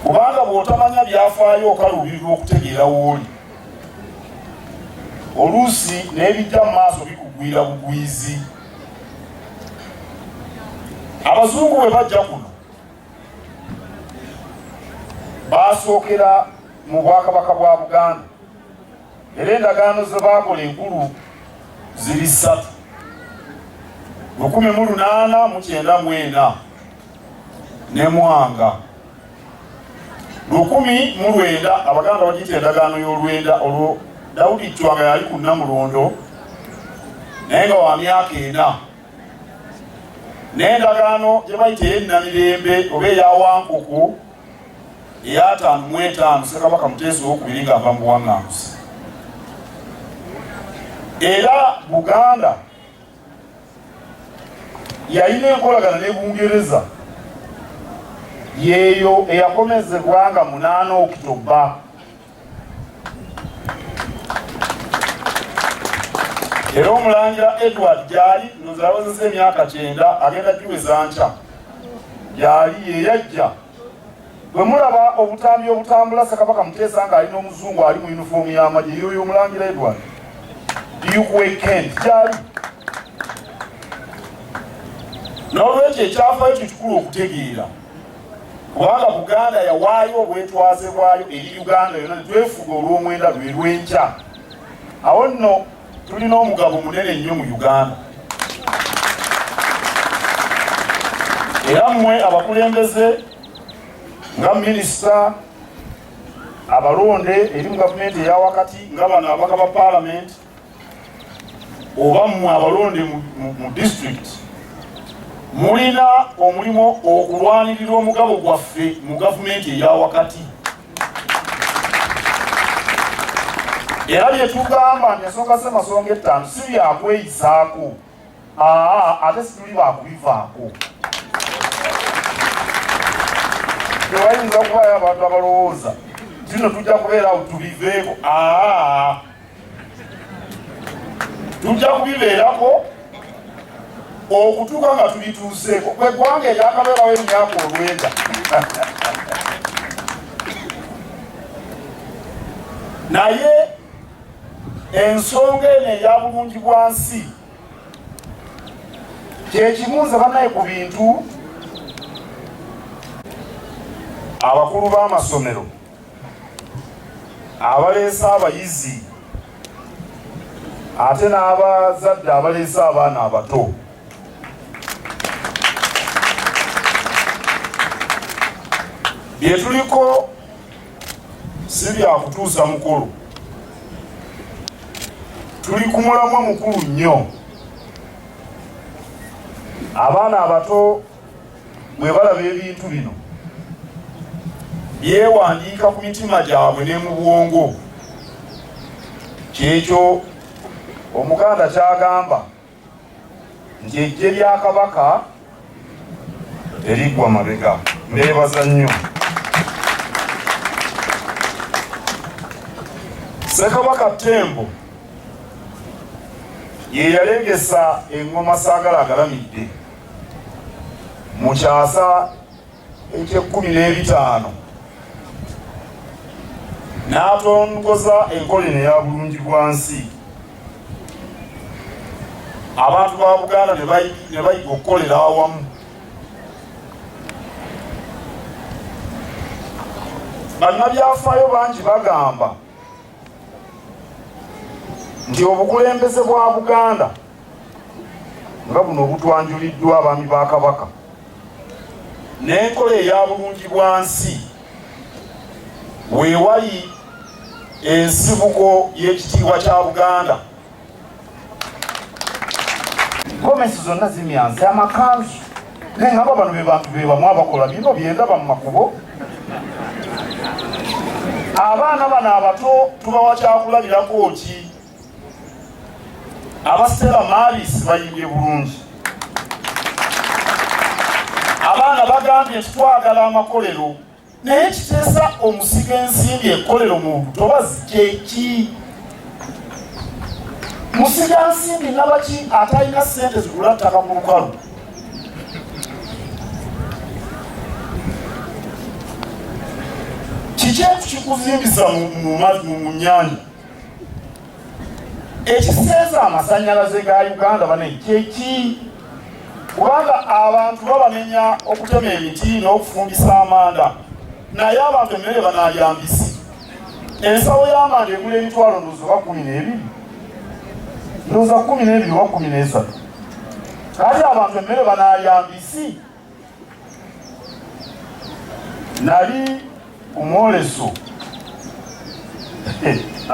kubanga bw'otamanya byafaayo okaluubirirwa okutegeera wooli oluusi n'ebijja mu maaso bikugwira bugwizi abazungu bwe bajja kuno baasookera mu bwakabaka bwa buganda era endagaano ze baakola enkulu ziri ssatu lukumi mu lunaana mu kyenda mwena ne Mwanga lukumi mu lwenda Abaganda bagiyita endagaano y'olwenda olwo Daudi Chwa nga yali ku Namulondo naye nga wa myaka ena n'endagaano gye bayita ey'ennamirembe oba eya Wankuku eyataano mu etaano Ssekabaka Muteesa owokubiri ng'ava mu buwaŋŋanguse era Buganda yalina enkolagana ne bungereza yeeyo eyakomezebwa nga munaana okitoba era omulangira edward gyali nozalawozesa emyaka kyenda agenda giweza nkya gyali yeyajja Bwe mulaba obutambi obutambula Ssekabaka Muteesa ng'ali n'omuzungu ali mu yunifoomu y'amagye yoyo omulangira Edward Dukwe Kent gyali n'olwekyo ekyafaayo kye kikulu okutegeera kubanga Buganda yawaayo obwetwaze bwayo eri Uganda yonna ne twefuga olw'omwenda lwe lw'enkya awo nno tulina omugabo munene nnyo mu uganda era mmwe abakulembeze nga minisita abalonde eri mu gavumenti eyawakati nga bano abaka ba palamenti oba mmwe abalonde mu disitulikiti mulina omulimu okulwanirira omugabo gwaffe mu gavumenti eyawakati era bye tugamba nti ensonga z'amasonga ettaano si byakweyisaako aa ate situli bakubivaako tewayinza okubayo abantu abalowooza tino tujja kubeera awo tubiveeko aa tujja kubibeerako okutuuka nga tubituuseeko kwe ggwanga eryakabeerawo emyaka olwenda naye ensonga eno eya bulungi bwa nsi kyekibuuza banaye ku bintu abakulu b'amasomero abaleese abayizi ate n'abazadde abaleese abaana abato bye tuliko si byakutuusa mukulu tuli ku mulamwa mukulu nnyo abaana abato bwe balaba ebintu bino byewandiika ku mitima gyabwe ne mu bwongo kyekyo omuganda kyagamba nti ejje lya kabaka eriggwa mabega mbeebaza nnyo sekabaka tembo ye yalengesa engoma saagala agalamidde mu kyasa eky'ekkumi n'ebitaano n'atongoza enkola eno eya bulungi bwa nsi abantu ba buganda ne bayiga okukolera awamu bannabyafaayo bangi bagamba nti obukulembeze bwa buganda nga buno obutwanjuliddwa abaami ba kabaka n'enkola eya bulungi bwa nsi weewali ensibuko y'ekitiibwa kya buganda gomesi zonna zimyansi amakanzu naye ngaba bano bebantu bebamu abakola bino byendaba mu makubo abaana bano abato tubawa kyakulabirako ki abasitela maabisi bayimbye bulungi abaana bagambye nti twagala amakolero naye kiteesa omusiga ensimbi ekolero mu butobazi kyeki musiga nsimbi nabaki atalina sente zigula ttaka ku lukalu kiki ekikuzimbiza mu nyanja ekiseeza amasanyalaze ga uganda bane kyeki kubanga abantu babamenya okutema emiti n'okufumbisa amanda naye abantu emmere banalya mbisi ensawo y'amanda egula emitwalo ndozo oba kumi n'ebiri ndoza kumi n'ebiri oba kumi n'esatu kati abantu emmere banalya mbisi nali ku mwoleso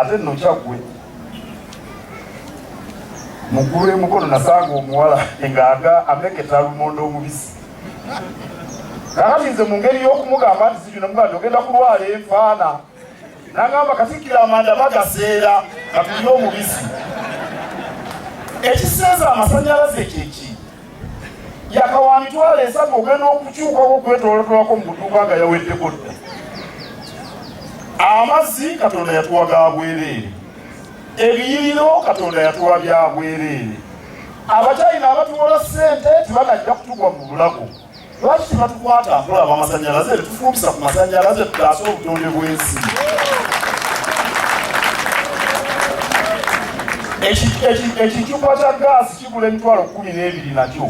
ate nno kyaggwe muggulu emukono nasanga omuwala ng'aga ameketa lumonde omubisi kakati nze mu ngeri y'okumugamba nti zijuna mugati ogenda kulwala enfaana nagamba katikira amanda bagaseera katulina omubisi ekiseeza amasanyalaze kyeki yakawa mitwalo esatu ogenda okukyukawo okwetolotolako mu kutuuka nga yaweddeko dda amazzi katonda yatuwa ga bwereere ebiyiriro katonda yatuwa bya bwereere abakyayina abatuwola ssente tebanajja kutugwa mu bulago Lwaki tebatukwata nkola bamasannyalaze tufumbisa ku masannyalaze tutaase obutonde bw'ensi? Ekicupa kya gaasi kigula emitwalo kkumi n'ebiri nakyo